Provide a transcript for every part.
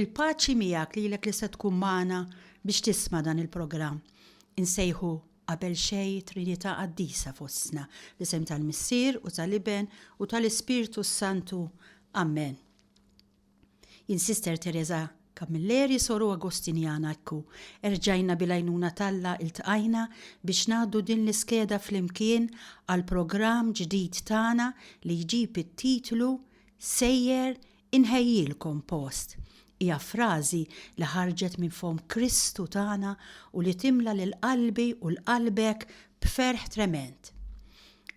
Il-paċi miegħek lilek li se tkun magħna biex tisma' dan il-programm. Insejħu qabel xej Trinità Qaddisa fostna, l-isem tal-Missier u tal-Iben u tal-Ispirtu Santu. Amen. Jien Sister Teresa Camilleri, soru Agostinjana ekku, erġajna bil-għajnuna t'Alla iltqajna biex ngħaddu din l-iskeda flimkien għall-programm ġdid tagħna li jġib it-titlu Sejjer inħejjilkom post. Hija frażi li ħarġet minn fomm Kristu tagħna u li timla lil qalbi u lqalbek b'ferħ tremend.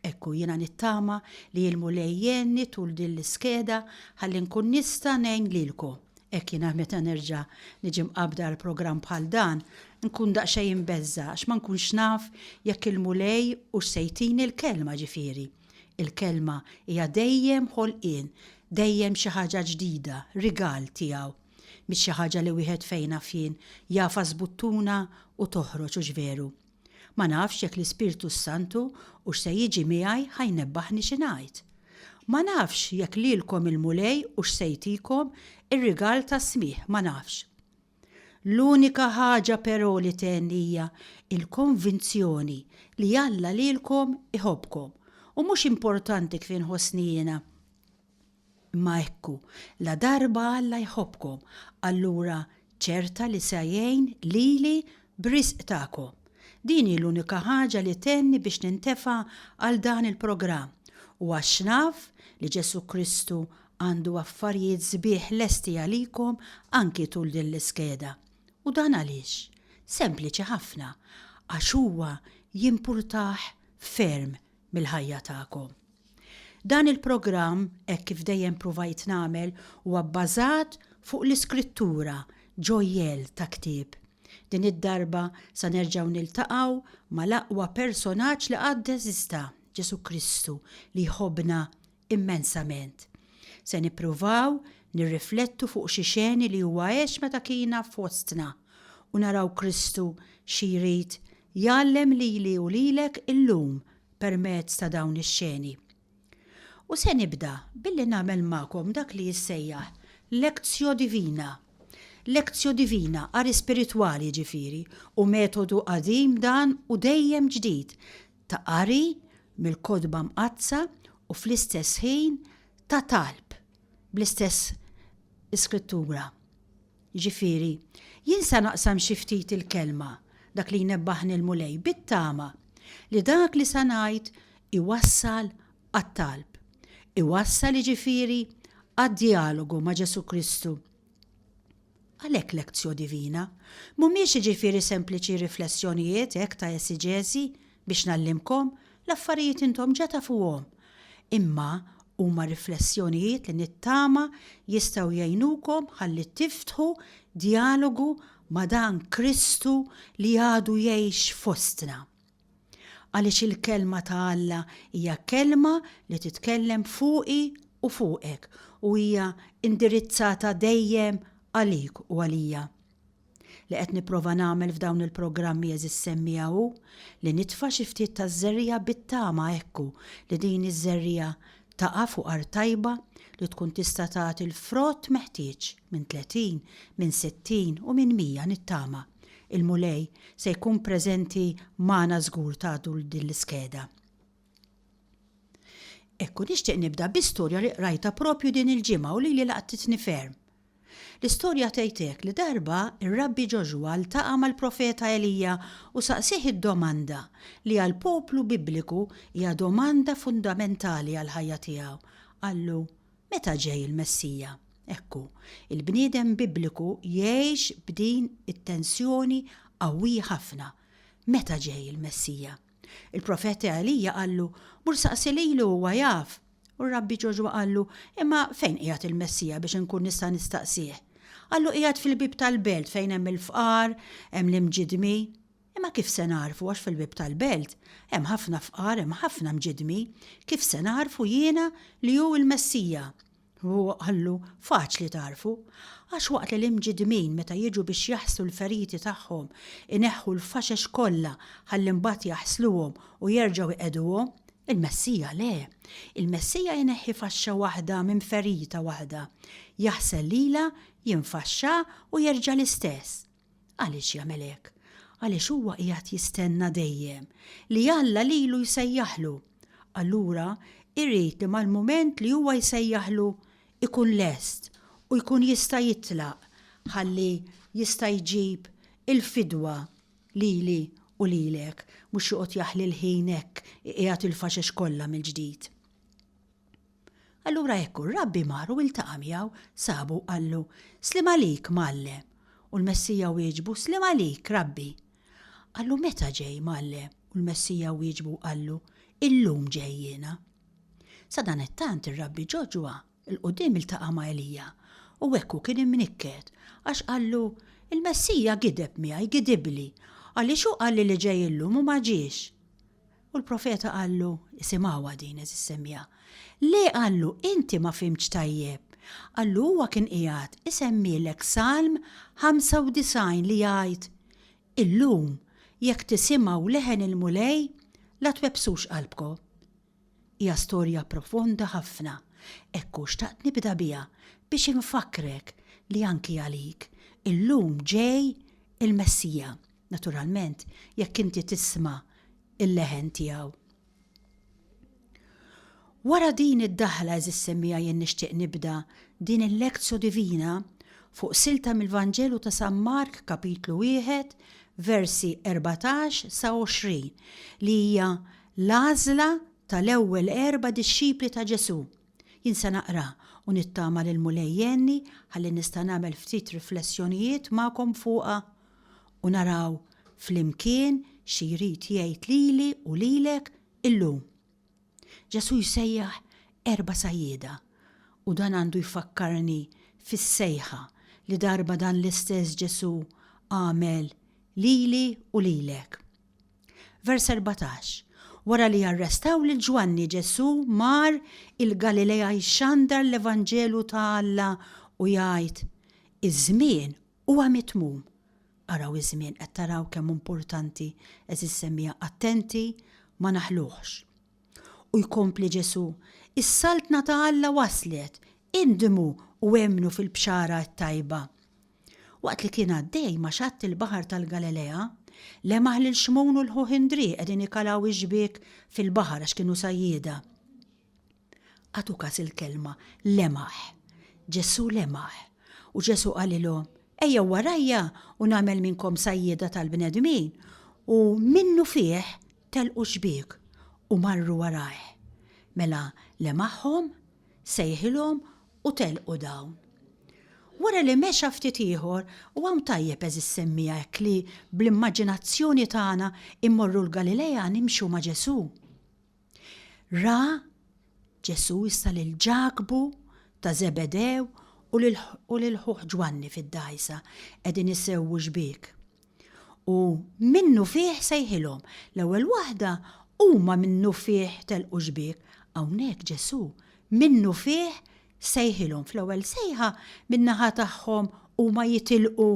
Hekk hu, jiena nittama li l-Mulej jgħinni tul din l-iskeda ħalli nkun nista' ngħin lilkom. Hekk jiena meta nerġa' niġi mqabbda għal programm bħal dan, nkun daqsxejn imbeżża' għax ma nkunx naf jekk il-Mulej hux se jtini l-Kelma, ġifieri. Il-Kelma hija dejjem ħolqien, dejjem xi ħaġa ġdida, rigal tiegħu. Mhix xi ħaġa li wieħed fejn naf jien, jagħfas buttuna u toħroġ, hux veru? Ma nafx jekk l-Ispirtu s-Santu hux se jiġi miegħi ħa jnebbaħni xi ngħid. Ma nafx jekk lilkom il-Mulej hux se jtikom ir-rigal tas-smigħ, ma nafx. L-unika ħaġa però li tgħenni hija l-konvinzjoni li Alla lilkom iħobbkom u mhux importanti kif inħossni jiena. Imma ekku, ladarba Alla jħobbkom, allura ċerta li se jgħin lili b'riżq tagħkom. Din hi l-unika ħaġa li tgħenni biex nintefa' għal dan il-programm u għax naf li Ġesù Kristu għandu affarijiet sbieħ lesti għalikom anki tul din l-iskeda. U dan għaliex? Sempliċi ħafna, għax huwa jimpurtah ferm mill-ħajja tagħkom. Dan il-programm, hekk kif dejjem pruvajt nagħmel, huwa bbażat fuq l-iskrittura, ġojjell ta' ktieb. Din id-darba sa nerġgħu niltaqgħu mal-aqwa personaġġ li qatt eżista, Ġesù Kristu li jħobbna immensament. Se nippruvaw nirriflettu fuq xi xeni li huwa għex meta kiena fostna u naraw Kristu xi jrid jgħallem lili u lilek illum permezz ta' dawn ix-xeni. U se nibda billi nagħmel magħkom dak li jissejjaħ lectio divina. Lectio divina, qari spiritwali jiġifieri, u metodu qadim dan u dejjem ġdid. ta' qari mill-Kotba Mqaddsa u fl-istess ħin ta' talb bl-istess Iskrittura. Jiġifieri, jien se naqsam xi ftit il-Kelma, dak li jnebbaħni l-Mulej, bit-tama li dak li se ngħid iwassal għat-talb, iwassal jiġifieri għad-djalogu ma' Ġesù Kristu. Għalhekk lectio divina mhumiex jiġifieri sempliċi riflessjonijiet hekk ta' esiġeżi biex ngħallimkom, l-affarijiet intom ġa tafuhom, imma huma riflessjonijiet li nittama jistgħu jgħinukom ħalli tiftħu djalogu ma' dan Kristu li għadu jgħix fostna. Għaliex il-Kelma ta' Alla hija kelma li titkellem fuqi u fuqek u hija indirizzata dejjem għalik u għalija. Li qed nipprova nagħmel f'dawn il-programmi għeżiż semmiegħa hu li nitfa' xi ftit taż-żerriegħa bit-tama hekku li din iż-żerriegħa taqa' fuq art tajba li tkun tista' tagħti l-frott meħtieġ minn tletin, minn sittin u minn mija nittama Il-Mulej se jkun preżenti magħna żgur tagħtu din l-iskeda. Hekk u nixtieq nibda bi storja li qrajtha propju din il-ġimgħa u lili laqtitni ferm. L-istorja tgħid hekk li darba r-Rabbi Ġoxwa ltaqa' mal-profeta Elija u saqsieh id-domanda li għall-poplu Bibliku hija domanda fundamentali għall-ħajja tiegħu. Qallu, Meta ġej il-Messija? Ekku, il-bniedem Bibliku jgħix b'din it-tensjoni qawwija ħafna, Meta ġej il-Messija? Il-profet Elija qallu, Mur saqsi lilu huwa jaf. U r-Rabbi Ġoxwa qallu, Imma fejn qiegħed il-Messija biex inkun nista' nistaqsih? Qallu, Qiegħed fil-bieb tal-belt fejn hemm il-fqar, hemm l-imġiddmi. Imma kif se nagħrfu għax fil-bieb tal-belt hemm ħafna fqar, hemm ħafna mġiddmi, kif se nagħrfu jiena li hu l-Messija? Huwa qallu, Faċli tagħrfu. Għax waqt li l-imġiddmin meta jiġu biex jaħslu l-feriti tagħhom ineħħu l-faxex kollha ħalli mbagħad jaħsluhom u jerġgħu jqegħduhom, il-Messija le. Il-Messija jneħħi faxxa waħda minn ferita waħda, jaħsel lilha, jinfaxxaha u jerġa' l-istess. Għaliex jagħmel hekk? Għaliex huwa qiegħed jistenna dejjem li Alla lilu jsejjaħlu. Allura irid li mal-mument li huwa jsejjaħlu ikun lest u jkun jista' jitlaq ħalli jista' jġib il-fidwa lili u lilek, mhux joqgħod jaħli l-ħin hekk iqiegħed il-faxex kollha mill-ġdid. Allura hekk hu, r-rabbi mar u iltaqa' miegħu, sabu u qallu, Sliem għalik, Mgħallem! U l-Messija wieġbu, Sliem għalik, Rabbi! Qallu, Meta ġej, Mgħallem? U l-Messija wieġbu u qallu, Illum ġej jiena. Sadanittant ir-rabbi ġo ġwa, 'l quddiem iltaqa' ma' Elija, u hekk hu kien imnikket, għax qallu, Il-Messija gideb miegħi, gidibli, għaliex hu qalli li ġej illum u ma ġiex. U l-profeta qallu, isimgħuha din eżis semmiegħa. Le qallu, inti ma fimtx tajjeb. Qallu huwa kien qiegħed isemmielek Salm 95 li jgħid, Illum, jekk tisimgħu leħen il-Mulej, la twebbsux qalbkom. Hija storja profonda ħafna, hekk hu xtaqt nibda biha biex infakkrek li anki għalik illum ġej il-Messija. Naturalment, jekk inti tisma' il-leħen tiegħu. Wara din id-daħla eżis semmija jien nixtieq nibda din il-Lectio Divina fuq silta mill-Vanġelu ta' San Mark kapitlu wieħed versi 14 sa 20 li hija l-għażla tal-ewwel erba' dixxipli ta' Ġesù Jien se naqra u nittama li l-Mulej jgħinni ħalli nista' nagħmel ftit riflessjonijiet magħkom fuqha u naraw flimkien xi jrid jgħid lili u lilek illum. Ġesù jsejjaħ erba' sajjieda u dan għandu jfakkarni fis-sejħa li darba dan l-istess Ġesù għamel lili u lilek. Vers 14. Wara li arrestaw lil Ġwanni Ġesù mar il-Galilea jxandar l-Evanġelu ta' Alla u jgħid, Iż-żmien huwa mitmum. Araw iż-żmien, qed taraw kemm importanti, għeżież semmiegħa, attenti ma naħluhx. U jkompli Ġesù, Is-Saltna ta' Alla waslet, indmu u emmnu fil-bxara t-tajba. Waqt li kien għaddej ma' xatt il-baħar tal-Galilea, lemaħ lil Xmun u l-ħuh Indrì qegħdin ikalaw ix-xbiek fil-baħar għax kienu sajjieda. Għadu kas il-kelma lemaħ. Ġesù lemaħ. U Ġesù qalilhom, Ejjew warajja u nagħmel minnkom sajjieda tal-bnedmin. U minnufih telqu x-xbiek u marru warajh. Mela lemaħhom sejħilhom u telqu dawn. Wara li mexa ftit ieħor, u hawn tajjeb għeżież semmiha hekk li bl-immaġinazzjoni tagħna immorru l-Galilea nimxu ma' Ġesù. Ra Ġesù issa lil Ġakbu ta' Żebedew u lil ħuh Ġwanni fid-dgħajsa qegħdin isewwu xbiek. U minnufih sejħilhom. L-ewwel waħda, huma minnufih telqu xbiek. Hawnhekk Ġesù minnufih sejħilhom. Fl-ewwel sejħa, min-naħa tagħhom huma jitilqu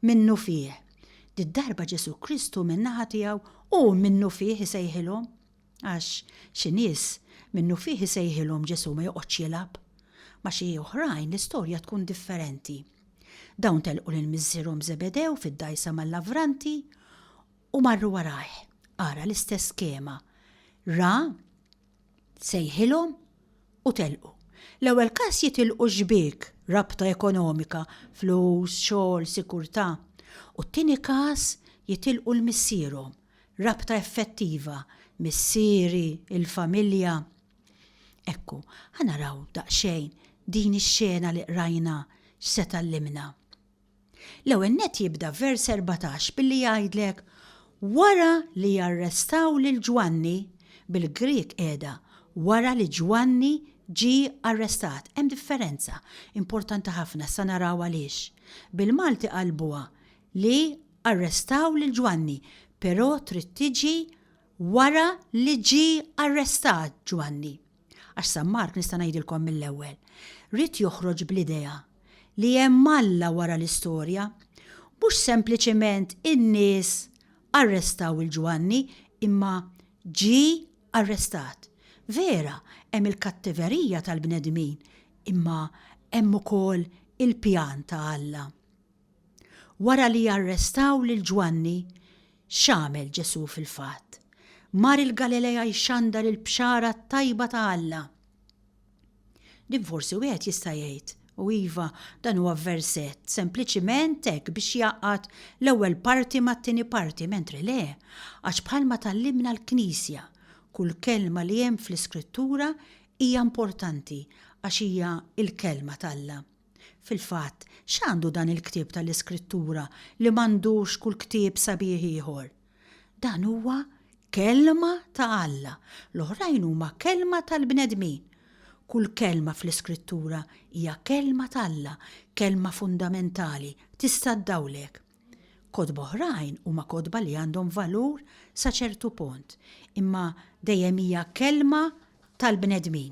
minnufih. Did-darba Ġesù Kristu min-naħa tiegħu hu minnufih isejħilhom. Għax, xi nies, minnufih isejħilhom Ġesù ma joqgħodx jilgħab. Ma' xi oħrajn l-istorja tkun differenti. Dawn telqu lil missierhom Żebedew fid-dgħajsa mal-lavranti u marru warajh. Ara l-istess skema. Ra, sejħilhom u telqu. L-ewwel każ jitilqu xbiek, rabta ekonomika, flus, xogħol, sikurtà. U t-tieni każ jitilqu l-missierhom, Rabta effettiva, missieri, il-familja. Ekku, ħa naraw daqsxejn din ix-xena li qrajna x'se tgħallimna. L-ewwel nett jibda vers 14 billi jgħidlek wara li jarrestaw lil Ġwanni, bil-Grieg qiegħda wara li Ġwanni ġie arrestat. Hemm differenza importanti ħafna, issa naraw għaliex. Bil-Malti qalbuha li Arrestaw lil Ġwanni, però trid tiġi wara li ġie arrestat Ġwanni. Għax San Mark, nista' ngħidilkom mill-ewwel, ried joħroġ bl-idea li hemm Alla wara l-istorja, mhux sempliċement in-nies arrestaw 'il Ġwanni, imma ġie arrestat. Vera, hemm il-kattiverija tal-bnedmin, imma hemm ukoll il-pjan ta' Alla. Wara li arrestaw lil Ġwanni, x'għamel Ġesù fil-fatt? Mar il-Galilea jxandar il-Bxara t-tajba ta' Alla. Din forsi wieħed jista' jgħid, u iva, dan huwa versett sempliċiment hekk biex jgħaqqad l-ewwel parti mat-tieni parti, mentri le, għax bħalma tgħallimna l-Knisja, kull kelma li hemm fl-Iskrittura hija importanti għax hija l-Kelma t'Alla. Fil-fatt, x'għandu dan il-ktieb tal-Iskrittura li m'għandux kull ktieb sabiħ ieħor? Dan huwa Kelma ta' Alla, l-oħrajn huma kelma tal-bnedmin. Kull kelma fl-Iskrittura hija kelma t'Alla, kelma fundamentali, tista' ddawlek. Kotba oħrajn huma kotba li għandhom valur sa ċertu pont, imma dejjem hija kelma tal-bnedmin.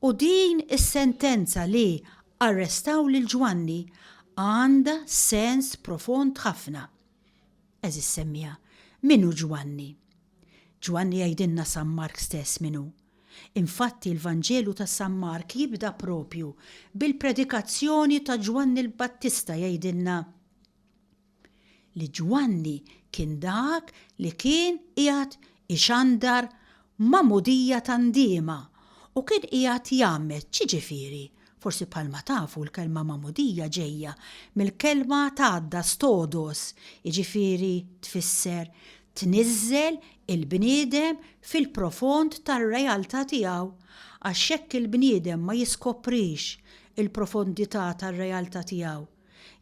U din is-sentenza li arrestaw lil Ġwanni għandha sens profond ħafna. Għeżież semmiegħa, min hu Ġwanni? Ġwanni jgħidilna San Mark stess min hu. Infatti l-Vanġelu ta' San Mark jibda proprju bil-predikazzjoni ta' Ġwanni l-Battista jgħidilna, li Ġwanni kien dak li kien qiegħed ixandar magħmudija ta' ndiema u kien qiegħed jgħammed. X'jiġifieri? Forsi bħalma tafu l-kelma magħmudija ġejja mill-kelma tgħadda stodos, jiġifieri tfisser tniżżel il-bniedem fil-profond tar-realtà tiegħu, għax jekk il-bniedem ma jiskoprix il-profondità tar-realtà tiegħu,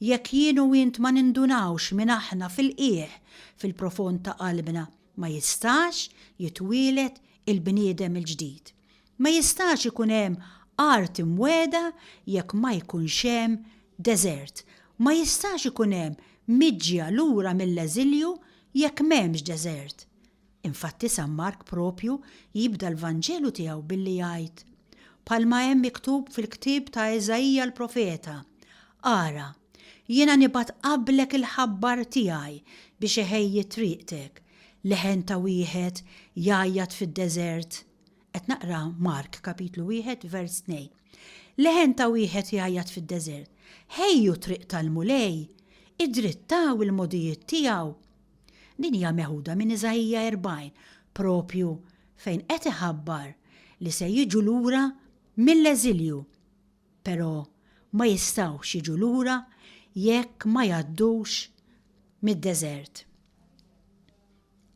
Jekk jien u int ma nindunawx min aħna fil-qiegħ, fil-profond ta' qalbna, ma jistax jitwieled il-bniedem il-ġdid. Ma jistax ikun hemm art imwegħda jekk ma jkunx hemm deżert. Ma jistax ikun hemm miġja lura mill-eżilju jekk m'hemmx deżert. Infatti San Mark proprju jibda l-Vanġelu tiegħu billi jgħid, bħalma hemm miktub fil-ktieb ta' Iżaija l-profeta, Ara, jiena nibgħat qablek il-ħabbar tiegħi biex iħejji triqtek, leħen ta' wieħed jgħajjat fid-deżert. Qed naqra Mark kapitlu wieħed vers tnejn. Leħen ta' wieħed jgħajjat fid-deżert. Ħejju triq tal-Mulej, idrittaw il-modijiet tiegħu. Din hija meħuda minn Iżaija 40, proprju fejn qed iħabbar li se jiġu lura mill-eżilju, però ma jistgħux jiġu lura jekk ma jgħaddux mid-deżert.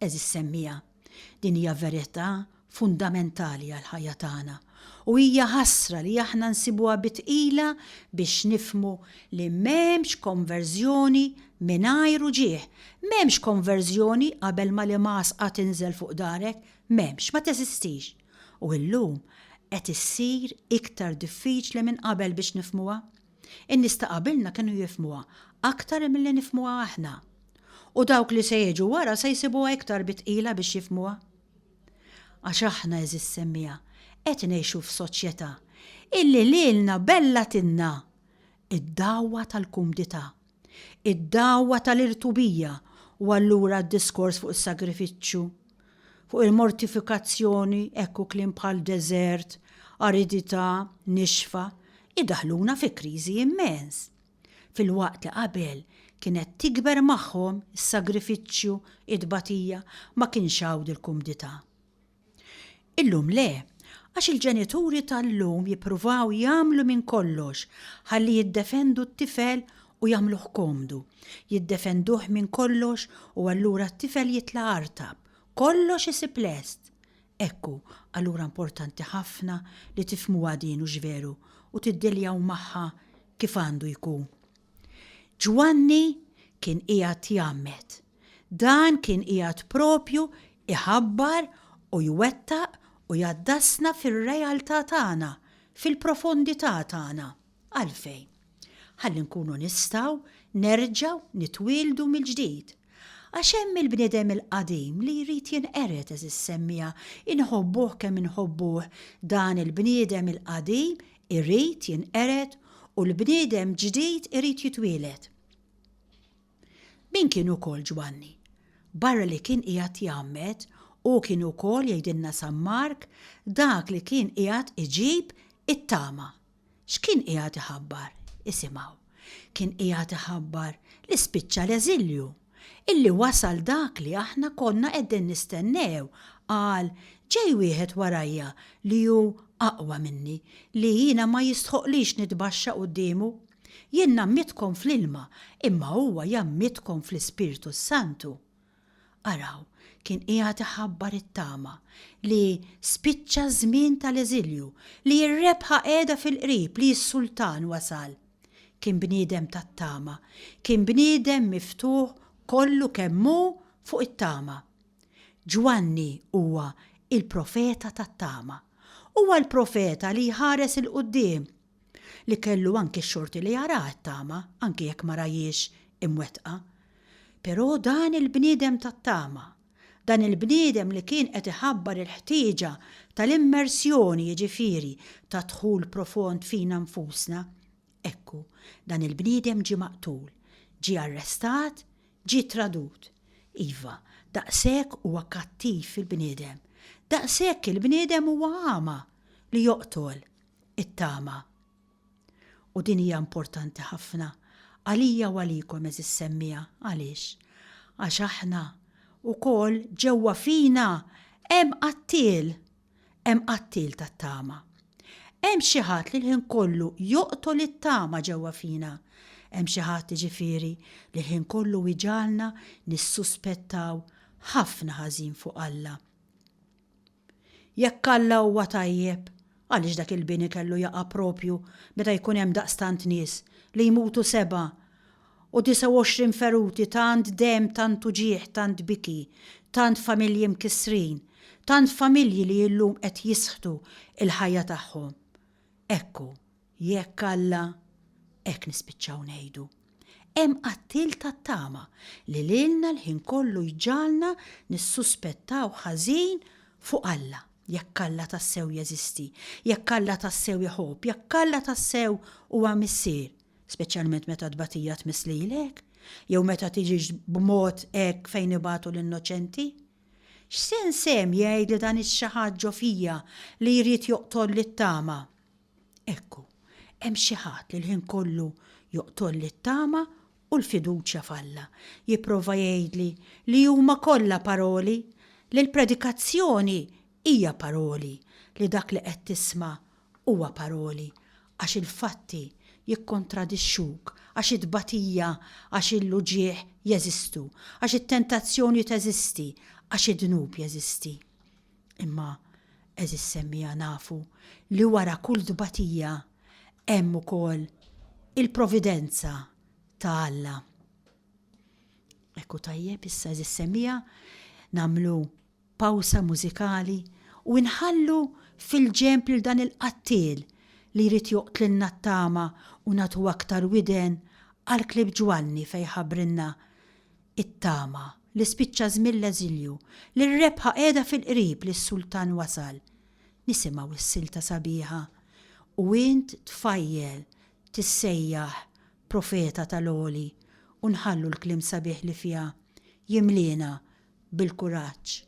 Eżis semmija. Din hija verità fundamentali għall-ħajja tagħna, u hija ħasra li aħna nsibuha bi tqila biex nifhmu li m'hemmx konverżjoni mingħajr uġigħ. M'hemmx konverżjoni qabel ma l-imgħasqa tinżel fuq darek, m'hemmx, ma teżistix. U llum qed issir iktar diffiċli minn qabel biex nifhmuha. In-nies ta' qabilna kienu jifhmuha aktar milli nifhmuha aħna, u dawk li se jiġu wara se jsibuha iktar bi tqila biex jifhmuha. Għax aħna, għeżież semmiegħa, qed ngħixu f'soċjetà illi lilna bellatilna d-dagħwa tal-kumdità. id-dagħwa tal-irtubija u allura d-diskors fuq is-sagrifiċċju, fuq il-mortifikazzjoni hekk u kliem bħal deżert, aridità, nixfa, idaħħluna fi kriżi immens. Filwaqt li qabel kienet tikber magħhom is-sagrifiċċju, it-tbatija, ma kienx hawn dil-kumdità. Illum le, għax il-ġenituri tal-lum jippruvaw jagħmlu minn kollox ħalli jiddefendu t-tifel u jagħmluh komdu. Jiddefenduh minn kollox u allura t-tifel jitla' artab. Kollox isib lest! Ekku, allura importanti ħafna li tifhmuha din hux veru u tiddealjaw magħha kif għandu jkun. Ġwanni kien qiegħed jgħammed. Dan kien qiegħed proprju jħabbar u jwettaq u jgħaddasna fir-realtà tagħna, fil-profondità tagħna. Għalfejn? Ħalli nkunu nistgħu nerġgħu nitwieldu mill-ġdid. Għax hemm il-bniedem il-qadim li jrid jinqered, għeżież semmiegħa, inħobbuh kemm inħobbuh, dan il-bniedem il-qadim irid jinqered u l-bniedem ġdid irid jitwieled. Min kien ukoll Ġwanni? Barra li kien qiegħed jgħammed, hu kien ukoll, jgħidilna San Mark, dak li kien qiegħed iġib it-tama. X'kien qiegħed iħabbar? Isimgħu. Kien qiegħed iħabbar li spiċċa l-eżilju, illi wasal dak li aħna konna qegħdin nistennew, qal, Ġej wieħed warajja li hu aqwa minni, li jiena ma jistħoqqlix nitbaxxa quddiemu. Jien nammittkom fl-ilma, imma huwa jammittkom fl-Ispirtu s-Santu. Araw, kien qiegħed iħabbar it-tama, li spiċċa ż-żmien tal-eżilju, li r-rebħa qiegħda fil-qrib, li s-Sultan wasal. Kien bniedem tat-tama, kien bniedem miftuħ kollu kemm hu fuq it-tama. Ġwanni huwa il-profeta tat-tama. Huwa l-profeta li jħares 'il quddiem li kellu anki x-xorti li jara t-tama anki jekk ma rahiex imwettqa. Però dan il-bniedem tat-tama, dan il-bniedem li kien qed iħabbar il-ħtieġa tal-immersjoni jiġifieri ta' dħul profond fina nfusna, ekku, dan il-bniedem ġie maqtul, ġie arrestat, ġie tradut. Iva, daqshekk huwa kattiv il-bniedem, daqshekk il-bniedem huwa għama li joqtol. it-tama. U din hija importanti ħafna għalija u għalikom għeżież semmiegħa. Għaliex? Għax aħna wkoll ġewwa fina hemm qattiel, hemm qattiel tat-tama. Hemm xi ħadd li l-ħin kollu joqtol it-tama ġewwa fina. Hemm xi ħadd ġifieri li l-ħin kollu jġagħalna nissuspettaw ħafna ħażin fuq Alla. Jekk Alla huwa tajjeb, għaliex dak il-bini kellu jaqa' proprju meta jkun hemm daqstant nies li jmutu sebgħa u disgħa u għoxrin feruti tant demm tant uġigħ tant biki tant familji mkissrin tant familji li illum qed jisħtu il-ħajja tagħhom hekk hu Jekk Alla, hekk nispiċċaw ngħidu, hemm qattiel tat-tama li lilna l-ħin kollu jġagħalna nissuspettaw ħażin fuq Alla, jekk Alla tassew jeżisti, jekk Alla tassew iħobb, jekk Alla tassew huwa Missier, speċjalment meta t-tbatija tmiss lilek, jew meta tiġix b'mod hekk fejn ibatu l-innoċenti? X'sens hemm jgħidli dan ix-xi ħadd ġo fija li jrid joqtolli t-tama? Ekku, hemm xi ħadd li l-ħin kollu joqtolli t-tama u l-fiduċja f'Alla, jipprova jgħidli li huma kollha paroli, li l-predikazzjoni hija paroli, li dak li qed tisma' huwa paroli, għax il-fatti jikkontradixxuk, għax it-tbatija, għax il-uġigħ jeżistu, għax it-tentazzjoni teżisti, għax id-dnub jeżisti. Imma, għeżież semmiegħa nafu li wara kull tbatija hemm ukoll il-providenza ta' Alla. Hekk hu tajjeb issa għeżież semmiegħa nagħmlu pawsa mużikali u inħallu fil-ġenb lil dan il-qattiel li jrid joqtlilna t-tama u nagħtu aktar widen għall-klieb Ġwanni fejn jħabbrilna It-tama, li spiċċa żmien l-eżilju, li r-rebħa qiegħda fil-qrib li s-Sultan wasal. Nisimgħu s-silta sabiħa, U int tfajjel tissejjaħ profeta tal-għoli u nħallu l-kliem sabiħ li fiha jimliena bil-kuraġġ.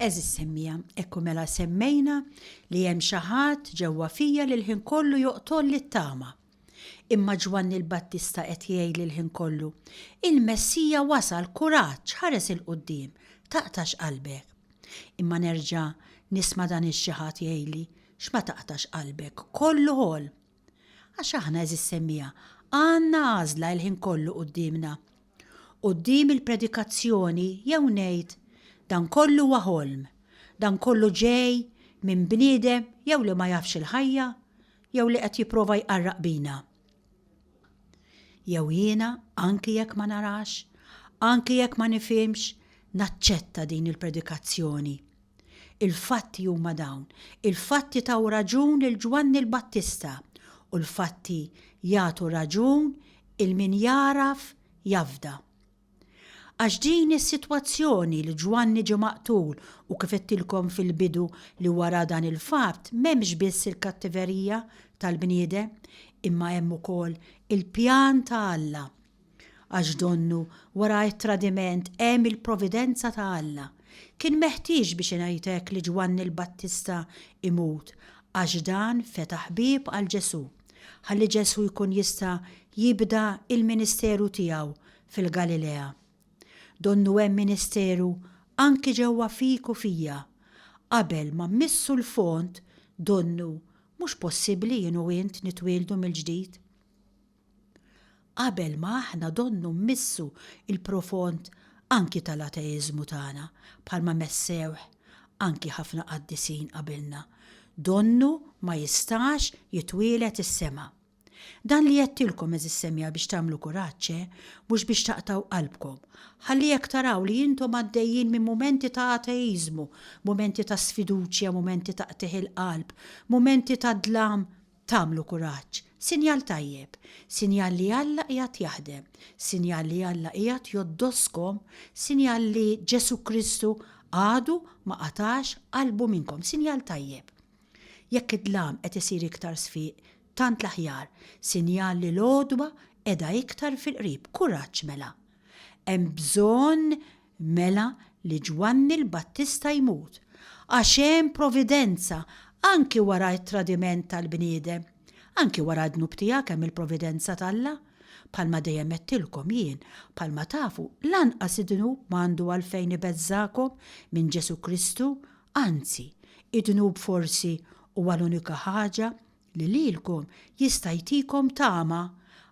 Għeżież semmija, hekk u mela semmejna li hemm xi ħadd ġewwa fija li l-ħin kollu joqtolli t-tama. Imma Ġwanni l-Battista qed jgħidli l-ħin kollu, Il-Messija wasal, kuraġġ, ħares 'il quddiem, taqtax qalbek. Imma nerġa' nisma' dan ix-xi ħadd jgħidli, X'ma taqtax qalbek, kollu ħolm. Għax aħna, għeżież semmiegħa, għandna għażla l-ħin kollu quddiemna. Quddiem il-predikazzjoni jew ngħid, dan kollu huwa ħolm, dan kollu ġej minn bniedem jew li ma jafx il-ħajja jew li qed jipprova jqarraq bina. Jew jiena, anki jekk ma narax, anki jekk ma nifhimx, naċċetta din il-predikazzjoni. Il-fatti huma dawn, il-fatti taw raġun lil Ġwanni l-Battista, u l-fatti jagħtu raġun 'il min jagħraf jafda. Għax din hi s-sitwazzjoni li Ġwanni ġie maqtul u kif għedtilkom fil-bidu li wara dan il-fatt m'hemmx biss il-kattiverija tal-bniedem imma hemm ukoll il-pjan ta' Alla. Għax donnu wara t-tradiment hemm il-providenza ta' Alla. Kien meħtieġ biex ingħid hekk li Ġwanni l-Battista imut għax dan fetaħ bieb għal Ġesù, ħalli Ġesù jkun jista' jibda l-ministeru tiegħu fil-Galilea. Donnu hemm ministeru anki ġewwa fik u fija. Qabel ma mmissu l-fond, donnu mhux possibbli jien u int nitwieldu mill-ġdid. Qabel ma aħna donnu mmissu l-profond anki tal-ateiżmu tagħna, bħalma messewh anki ħafna qaddisin qabilna, donnu ma jistax jitwieled is-sema. Dan li għedtilkom, għeżież semja, biex tagħmlu kuraġġ, eh, mhux biex taqtgħu qalbkom. Ħalli jekk taraw li intom għaddejjin minn mumenti ta' ateiżmu, mumenti ta' sfiduċja, mumenti ta' qtigħ il-qalb, mumenti ta' dlam, Tagħmlu kuraġġ, sinjal tajjeb, sinjal li Alla qiegħed jaħdem, sinjal li Alla qiegħed jgħoddoskom, sinjal li Ġesù Kristu għadu ma qatax qalbu minnkom, sinjal tajjeb. Jekk id-dlam qed isir iktar sfiq, tant l-aħjar, sinjal li l-għodwa qiegħda iktar fil-qrib, kuraġġ mela. Hemm bżonn Mela li Ġwanni l-Battista jmut, għax hemm providenza anki wara t-tradiment tal-bniedem. Anki wara d-dnub tiegħek hemm il-providenza t'Alla. Bħalma dejjem għedtilkom jien, bħalma tafu, lanqas id-dnub ma għandu għalfejn ibeżżagħkom minn Ġesù Kristu, anzi, id-dnub forsi huwa l-unika ħaġa li lilkom jista' jtikom tama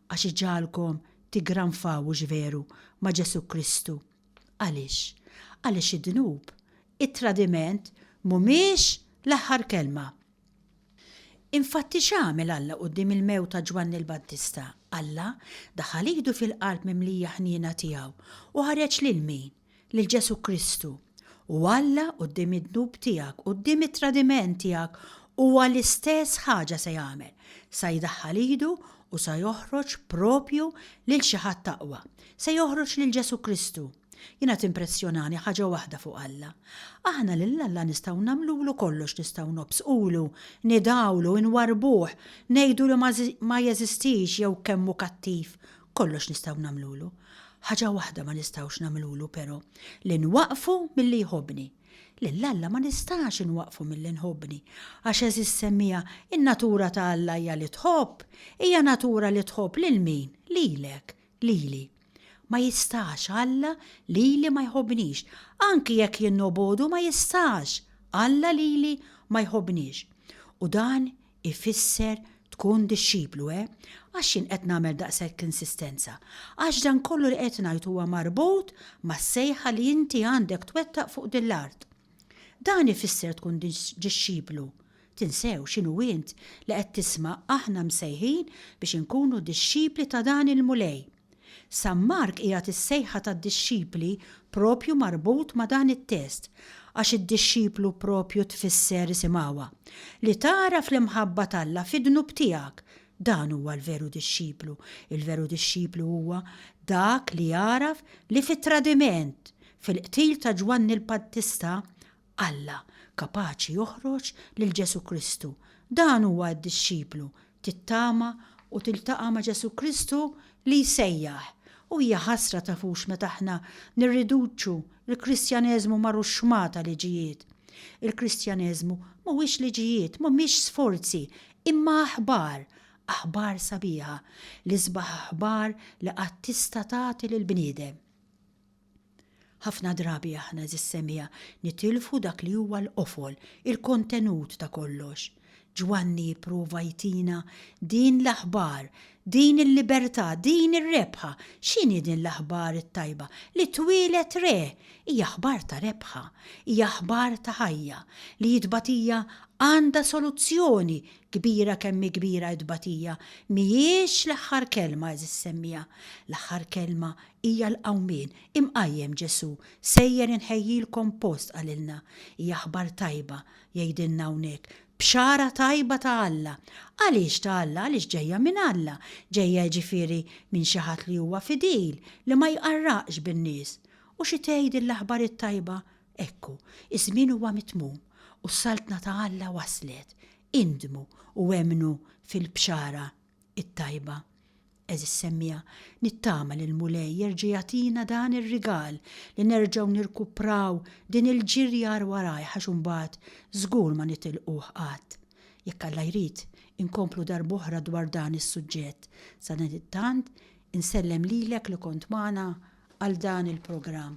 għax iġagħalkom tiggranfaw hux veru ma' Ġesù Kristu. Għaliex? Għaliex id-dnub, it-tradiment mhumiex l-aħħar kelma. Infatti x'għamel Alla quddiem il-mewt ta' Ġwanni l-Battista? Alla daħal idu fil-qalb mimlija ħniena tiegħu u ħareġ lil min? lil Ġesù Kristu, u Alla quddiem id-dnub tiegħek, quddiem it-tradiment tiegħek, huwa l-istess ħaġa se jagħmel, sa jdaħħal idu u sa joħroġ proprju lil xi ħadd aqwa, se joħroġ lil Ġesù Kristu. Jiena timpressjonani ħaġa waħda fuq Alla. Aħna lil Alla nistgħu nagħmlulu kollox, nistgħu nobsqulu, nidgħulu, inwarrbuh, ngħidu li ma jeżistix jew kemm hu kattiv, Kollox nistgħu nagħmlulu. Ħaġa waħda ma nistgħux nagħmlulu però, li nwaqqfu milli jħobbni. Lil Alla ma nistax inwaqqfu milli nħobbni, għax għeżież semmiegħa, in-natura ta' Alla hija li tħobb, hija natura li tħobb lil min? Lilek, lili. Ma jistax Alla lili ma jħobbnix. Anki jekk jien nobogħdu ma jistax Alla lili ma jħobbnix. U dan Ifisser tkun dixxiplu, eh? Għax jien qed nagħmel daqshekk l-insistenza? Għax dan kollu li qed ngħid huwa marbut mas-sejħa li inti għandek twettaq fuq din l-art. Dan ifisser tkun dixxiplu. Tinsew x'inhu int li qed tisma' aħna msejħin biex inkunu dixxipli ta' dan il-Mulej. San Mark qiegħed is-sejħa tad-dixxipli proprju marbut ma' dan it-test, għax id-dixxiplu proprju tfisser isimgħuha. Li tagħraf l-imħabba t'Alla fid-dnub tiegħek, dan huwa l-veru dixxiplu. Il-veru dixxiplu huwa dak li jagħraf li fit-tradiment, fil-qtil ta' Ġwanni l-Battista, Alla, kapaċi joħroġ lil Ġesù Kristu. Dan huwa d-dixxiplu, tittama u tiltaqa' ma' Ġesù Kristu li jsejjaħ. U hija ħasra tafux meta aħna nirriduċu l-Kristjaneżmu mar u xma ta' liġijiet. Il-Kristjaneżmu mhuwiex liġijiet, mhumiex sforzi, imma aħbar, aħbar sabiħa, l-isbaħ aħbar li qatt tista' tagħti lill-bniedem. Ħafna drabi aħna, għeżież semija, nitilfu dak li huwa l-qofol, il-kontenut ta' kollox. Ġwanni jipprova jtina din l-aħbar, din il-libertà, din ir-rebħa. X'inhi din l-aħbar it-tajba? Li twieled re! Hija aħbar ta' rebħa, hija aħbar ta' ħajja, li t-tbatija għandha soluzzjoni Kbira kemm hi kbira t-tbatija, mhijiex l-aħħar kelma, għeżież semmiegħa. L-aħħar kelma hija l-qawmien. Imqajjem Ġesù, sejjer inħejjilkom post qalilna. Hija aħbar tajba, jgħidilna hawnhekk, bxara tajba ta' Alla. Għaliex ta' Alla? Għaliex ġejja minn Alla, ġejja jiġifieri minn xi ħadd li huwa fidil, li ma jqarraqx bin-nies. U xi tgħid din l-aħbar it-tajba Ekku, iż-żmien huwa mitmum u s-Saltna ta' Alla waslet. Indmu u emmnu fil-Bxara t-Tajba. Għeżież semmiegħa, nittama li l-Mulej jerġa' jagħtina dan ir-rigal li nerġgħu nirkupraw din il-ġirja għar warajh għax imbagħad żgur ma nitilquh qatt. Jekk Alla jrid, inkomplu darb'oħra dwar dan is-suġġett. Sadanittant, insellem lilek li kont magħna għal dan il-programm.